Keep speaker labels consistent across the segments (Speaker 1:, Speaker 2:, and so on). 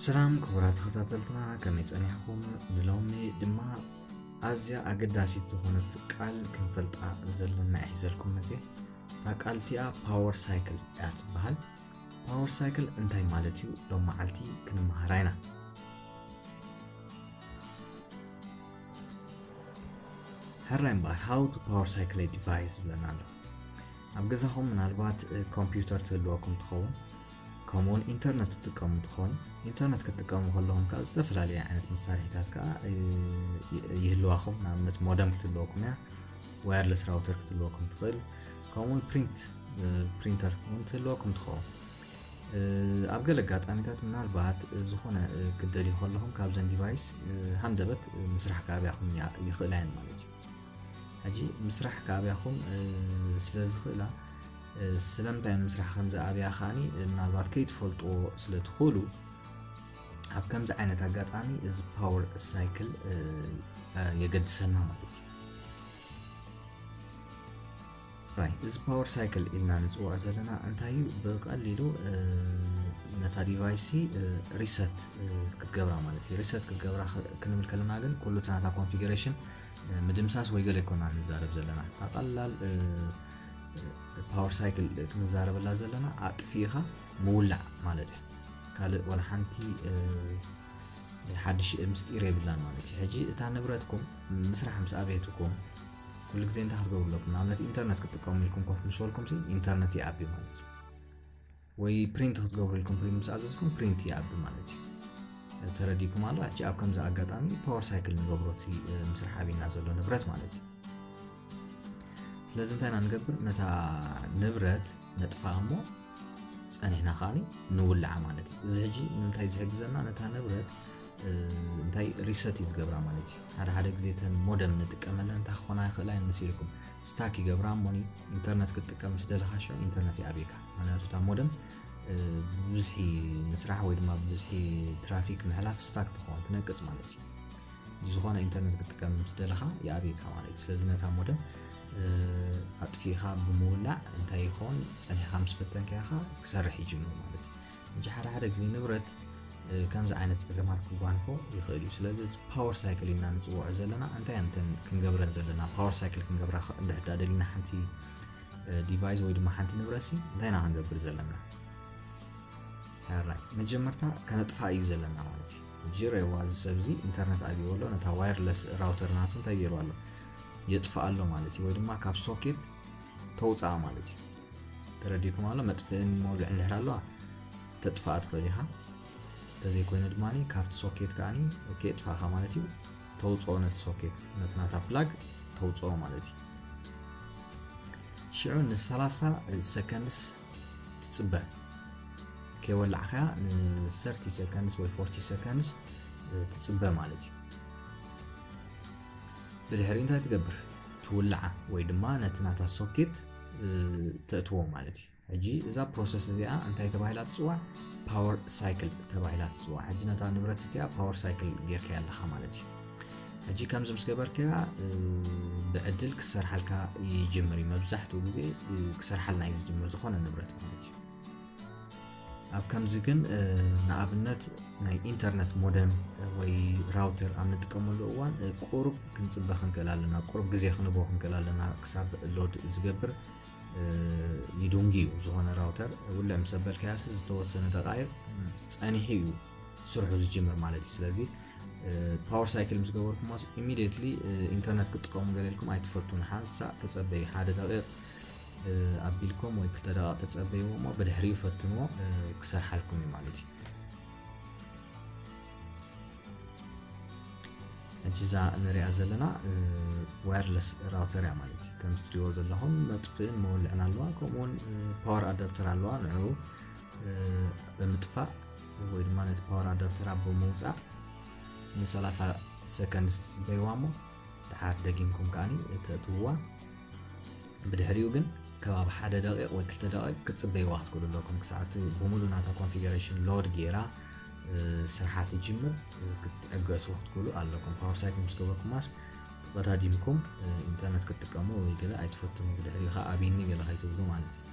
Speaker 1: ሰላም ክቡራት ተኸታተልትና ከመይ ፀኒሕኩም ንሎሚ ድማ ኣዝያ ኣገዳሲት ዝኾነት ቃል ክንፈልጣ ዘለና ይሒዘልኩም መፅእ እታ ቃል እቲኣ ፓወር ሳይክል እያ ትበሃል ፓወር ሳይክል እንታይ ማለት እዩ ሎም መዓልቲ ክንመሃራ ኢና ሕራይ እምበኣር ሃው ቱ ፓወር ሳይክል ዲቫይስ ዝብለና ኣሎ ኣብ ገዛኹም ምናልባት ኮምፒውተር ትህልወኩም ትኸውን ከምኡውን ኢንተርነት ትጥቀሙ ትኾኑ ኢንተርነት ክትጥቀሙ ከለኹም ከዓ ዝተፈላለዩ ዓይነት መሳርሒታት ከዓ ይህልዋኹም ንኣብነት ሞደም ክትህልወኩም እያ ዋየርለስ ራውተር ክትህልወኩም ትኽእል ከምኡ እውን ፕሪንት ፕሪንተር እውን ትህልወኩም ትኸውን ኣብ ገለ ኣጋጣሚታት ምናልባት ዝኾነ ክደልዩ ከለኹም ካብዘን ዲቫይስ ሃንደበት ምስራሕ ከኣብያኹም ይኽእላ እየን ማለት እዩ ሕጂ ምስራሕ ከኣብያኹም ስለ ዝኽእላ ስለምንታይ ምስራሕ ከም ዝኣብያ ከዓኒ ምናልባት ከይትፈልጥዎ ስለ ትኽእሉ ኣብ ከምዚ ዓይነት ኣጋጣሚ እዚ ፓወር ሳይክል የገድሰና ማለት እዩ ራይት እዚ ፓወር ሳይክል ኢልና ንፅውዖ ዘለና እንታይ እዩ ብቀሊሉ ነታ ዲቫይስ ሪሰት ክትገብራ ማለት እዩ ሪሰት ክትገብራ ክንብል ከለና ግን ኩሉ እቲ ናታ ኮንፊግሬሽን ምድምሳስ ወይ ገለ ይኮና ንዛረብ ዘለና እታ ቀላል ፓወር ሳይክል ክንዛረበላ ዘለና ኣጥፊኢኻ ምውላዕ ማለት እዩ ካልእ ዋላ ሓንቲ ሓድሽ ምስጢር የብላን ማለት እዩ ሕጂ እታ ንብረትኩም ምስራሕ ምስ ኣበየትኩም ኩሉ ግዜ እንታይ ክትገብሩ ኣለኩም ንኣብነት ኢንተርነት ክትጥቀሙ ኢልኩም ኮፍ ምስ በልኩም ኢንተርነት ይኣቢ ማለት እዩ ወይ ፕሪንት ክትገብሩ ኢልኩም ፕሪንት ምስ ኣዘዝኩም ፕሪንት ይኣቢ ማለት እዩ ተረዲኩም ኣሎ ሕጂ ኣብ ከምዚ ኣጋጣሚ ፓወር ሳይክል ንገብሮ እቲ ምስራሕ ኣብና ዘሎ ንብረት ማለት እዩ ስለዚ እንታይ ኢና ንገብር ነታ ንብረት ነጥፋ እሞ ጸኒሕና ከኣ ንውልዓ ማለት እዩ እዚ ሕጂ ንምንታይ ዝሕግዘና ነታ ንብረት እንታይ ሪሰት እዩ ዝገብራ ማለት እዩ ሓደ ሓደ ግዜ ተን ሞደም ንጥቀመለ እንታይ ክኾና ይኽእላ እየን መሲልኩም ስታክ ይገብራ እሞኒ ኢንተርነት ክትጥቀም ምስ ደለኻ ሸ ኢንተርነት ይኣብካ ምክንያቱ እታ ሞደም ብብዝሒ ምስራሕ ወይ ድማ ብብዝሒ ትራፊክ ምሕላፍ ስታክ ትኸውን ትነቅፅ ማለት እዩ ዝኾነ ኢንተርነት ክትጥቀም ምስ ደለኻ ይኣብካ ማለት እዩ ስለዚ ነታ ሞደም ኣጥፊእኻ ብምውላዕ እንታይ ይኸውን ጸኒሕኻ ምስ ፈተንካዮ ኸኣ ክሰርሕ ይጅምር ማለት እዩ እንጂ ሓደ ሓደ ግዜ ንብረት ከምዚ ዓይነት ፀገማት ክጓንፎ ይኽእል እዩ ስለዚ ፓወር ሳይክል ኢና ንፅውዖ ዘለና እንታይ እንተን ክንገብረን ዘለና ፓወር ሳይክል ክንገብራ እንድሕዳ ደሊና ሓንቲ ዲቫይስ ወይ ድማ ሓንቲ ንብረሲ እንታይ ኢና ክንገብር ዘለና ራይ መጀመርታ ከነጥፋ እዩ ዘለና ማለት እዩ ጅሬዋ እዚ ሰብ እዚ ኢንተርነት ኣብይዎ ኣሎ ነታ ዋይርለስ ራውተር ናቱ እንታይ ገይሩ ኣሎ የጥፍኣ ኣሎ ማለት እዩ ወይ ድማ ካብ ሶኬት ተውፅኣ ማለት እዩ ተረዲኩም ኣሎ መጥፍእን መውልዕን ድሕር ኣለዋ ተጥፍኣ ትኽእል ኢኻ እንተዘይኮይኑ ድማ ካብቲ ሶኬት ከዓኒ ከየጥፋእኻ ማለት እዩ ተውፅኦ ነቲ ሶኬት ነቲ ናታ ፍላግ ተውፅኦ ማለት እዩ ሽዑ ን30 ሰከንድስ ትፅበ ከይወላዕካያ ን30 ሰከንድስ ወይ 40 ሰከንድስ ትፅበ ማለት እዩ ብድሕሪ እንታይ ትገብር ትውልዓ ወይ ድማ ነቲ ናታ ሶኬት ተእትዎ ማለት እዩ ሕጂ እዛ ፕሮሰስ እዚኣ እንታይ ተባሂላ ትፅዋዕ ፓወር ሳይክል ተባሂላ ትፅዋዕ ሕጂ ነታ ንብረት እቲኣ ፓወር ሳይክል ጌርካ ኣለካ ማለት እዩ ሕጂ ከምዚ ምስ ገበርካያ ብዕድል ክሰርሓልካ ይጅምር እዩ መብዛሕትኡ ግዜ ክሰርሓልና እዩ ዝጅምር ዝኾነ ንብረት ማለት እዩ ኣብ ከምዚ ግን ንኣብነት ናይ ኢንተርነት ሞደም ወይ ራውተር ኣብ ንጥቀመሉ እዋን ቁሩብ ክንፅበ ክንክእል ኣለና ቁሩብ ግዜ ክንቦ ክንክእል ኣለና ክሳብ ሎድ ዝገብር ይዱንጊ እዩ ዝኾነ ራውተር ውልዕ ምስ ኣበልካያሲ ዝተወሰነ ደቃይቕ ፀኒሑ እዩ ስርሑ ዝጅምር ማለት እዩ ስለዚ ፓወር ሳይክል ምስ ገበርኩሞ ኢሚድየትሊ ኢንተርነት ክጥቀሙ ገለልኩም ኣይትፈቱን ሓንሳእ ተፀበዩ ሓደ ደቂቕ ኣቢልኩም ወይ ክልተ ደቓቕ ተጸበይዎ እሞ ብድሕሪኡ ፈትንዎ ክሰርሓልኩም እዩ ማለት እዩ ሕጂ እዛ ንሪኣ ዘለና ዋየርለስ ራውተር እያ ማለት እዩ ከም ዝትሪእዎ ዘለኹም መጥፍእን መወልዕን ኣለዋ ከምኡውን ፓወር ኣዳፕተር ኣለዋ ንዕኡ ብምጥፋእ ወይ ድማ ነቲ ፓወር ኣዳፕተር ኣብ ብምውፃእ ን30 ሰከንድ ዝትፅበይዋ እሞ ድሓር ደጊምኩም ከዓኒ እተእትውዋ ብድሕሪኡ ግን ከባቢ ሓደ ደቂቅ ወይ ክልተ ደቂቅ ክትጽበይዋ ክትክእሉ ኣለኩም ክሳዕ እቲ ብምሉ ናታ ኮንፊገረሽን ሎድ ጌራ ስርሓ ትጅምር ክትዕገሱ ክትክእሉ ኣለኩም ፓወር ሳይክል ምስ ገበርኩማስ ተቀዳዲምኩም ኢንተርነት ክትጥቀሙ ወይ ገለ ኣይትፈትኑ ብድሕሪኡ ከዓ ኣቢኒ ገለ ከይትብሉ ማለት እዩ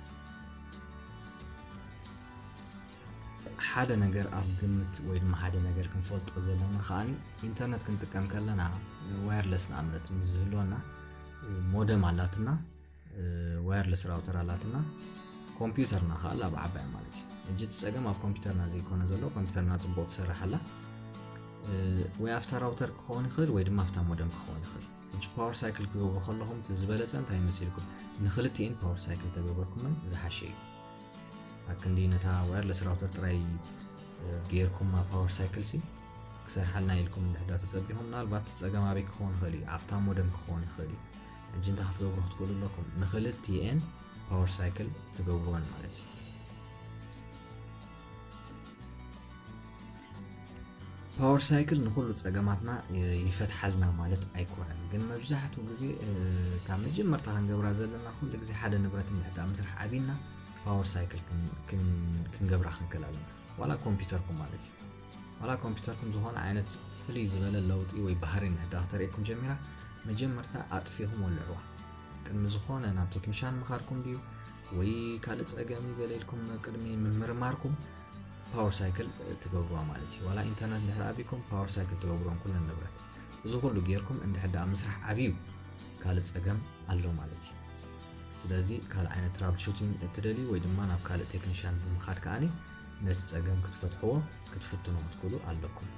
Speaker 1: ሓደ ነገር ኣብ ግምት ወይ ድማ ሓደ ነገር ክንፈልጦ ዘለና ከዓኒ ኢንተርነት ክንጥቀም ከለና ዋየርለስ ንኣብነት ምስ ዝህልወና ሞደም ኣላትና ዋየርለስ ራውተር ኣላትና ኮምፒውተርና ከዓ ኣብ ዓባያ ማለት እዩ እጅ ፀገም ኣብ ኮምፒውተርና ዘይኮነ ዘሎ ኮምፒውተርና ፅቡቅ ትሰርሕ ኣላ ወይ ኣብታ ራውተር ክኸውን ይኽእል ወይ ድማ ኣብታ ሞደም ክኸውን ይኽእል እጅ ፓወር ሳይክል ክገብሩ ከለኹም ዝበለፀ እንታይ መሲልኩም ንክልቲኤን ፓወር ሳይክል ተገበርኩምን ዝሓሸ እዩ ኣክንዲ ነታ ዋየርለስ ራውተር ጥራይ ጌርኩማ ፓወር ሳይክል ሲ ክሰርሓልና ኢልኩም እንድሕዳ ተጸቢኹም ምናልባት ጸገም ኣበይ ክኸውን ይኽእል እዩ ኣብታ ሞደም ክኸውን ይኽእል እዩ ሕጂ እንታይ ክትገብሩ ክትክእሉ ኣለኩም ንክልቲኤን ፓወር ሳይክል ትገብርወን ማለት እዩ ፓወር ሳይክል ንኩሉ ፀገማትና ይፈትሓልና ማለት ኣይኮነን ግን መብዛሕትኡ ግዜ ካብ መጀመርታ ክንገብራ ዘለና ኩሉ ግዜ ሓደ ንብረት ምዕዳ ምስራሕ ዓብና ፓወር ሳይክል ክንገብራ ክንክእል ኣለና ዋላ ኮምፒተርኩም ማለት እዩ ዋላ ኮምፒተርኩም ዝኾነ ዓይነት ፍልይ ዝበለ ለውጢ ወይ ባህሪ ምዕዳ ክተርእየኩም ጀሚራ መጀመርታ ኣጥፊኹም ወልዕዋ ቅድሚ ዝኾነ ናብ ቴክኒሻን ምኻድኩም ድዩ ወይ ካልእ ፀገም እዩ ገለ ኢልኩም ቅድሚ ምምርማርኩም ፓወር ሳይክል ትገብሩዋ ማለት እዩ ዋላ ኢንተርነት ድሕሪ ኣብኩም ፓወር ሳይክል ትገብሩዎም ኩለን ንብረት እዚ ኩሉ ጌርኩም እንድሕር ደኣ ምስራሕ ዓብዩ ካልእ ፀገም ኣሎ ማለት እዩ ስለዚ ካልእ ዓይነት ትራብል ሹቲንግ እትደልዩ ወይ ድማ ናብ ካልእ ቴክኒሽያን ብምኻድ ከዓኒ ነቲ ፀገም ክትፈትሕዎ ክትፍትኑ ክትክእሉ ኣለኩም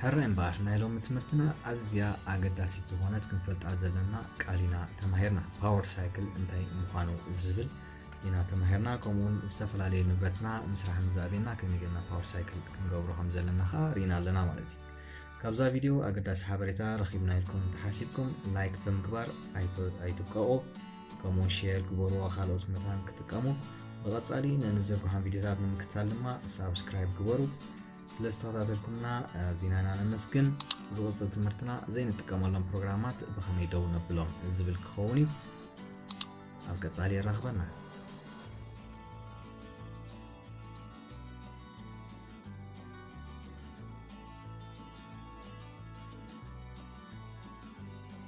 Speaker 1: ሕራይ እምበኣር ናይ ሎሚ ትምህርትና ኣዝያ ኣገዳሲት ዝኾነት ክንፈልጣ ዘለና ቃል ኢና ተማሂርና ፓወር ሳይክል እንታይ ምዃኑ ዝብል ኢና ተማሂርና ከምኡውን ዝተፈላለዩ ንብረትና ምስራሕ ምዛቤና ከመይ ጌርና ፓወር ሳይክል ክንገብሮ ከም ዘለና ከዓ ርኢና ኣለና ማለት እዩ ካብዛ ቪድዮ ኣገዳሲ ሓበሬታ ረኺብና ኢልኩም እንተሓሲብኩም ላይክ ብምግባር ኣይትቀቑ ከምኡ ሼር ግበርዎ ካልኦት መታን ክጥቀሙ ብቐጻሊ ነንዘርግሖም ቪድዮታት ንምክታል ድማ ሳብስክራይብ ግበሩ ስለ ዝተኸታተልኩምና ዜናና ነመስግን ዝቕፅል ትምህርትና ዘይንጥቀመሎም ፕሮግራማት ብኸመይ ደው ነብሎም ዝብል ክኸውን እዩ ኣብ ቀጻሊ የራኽበና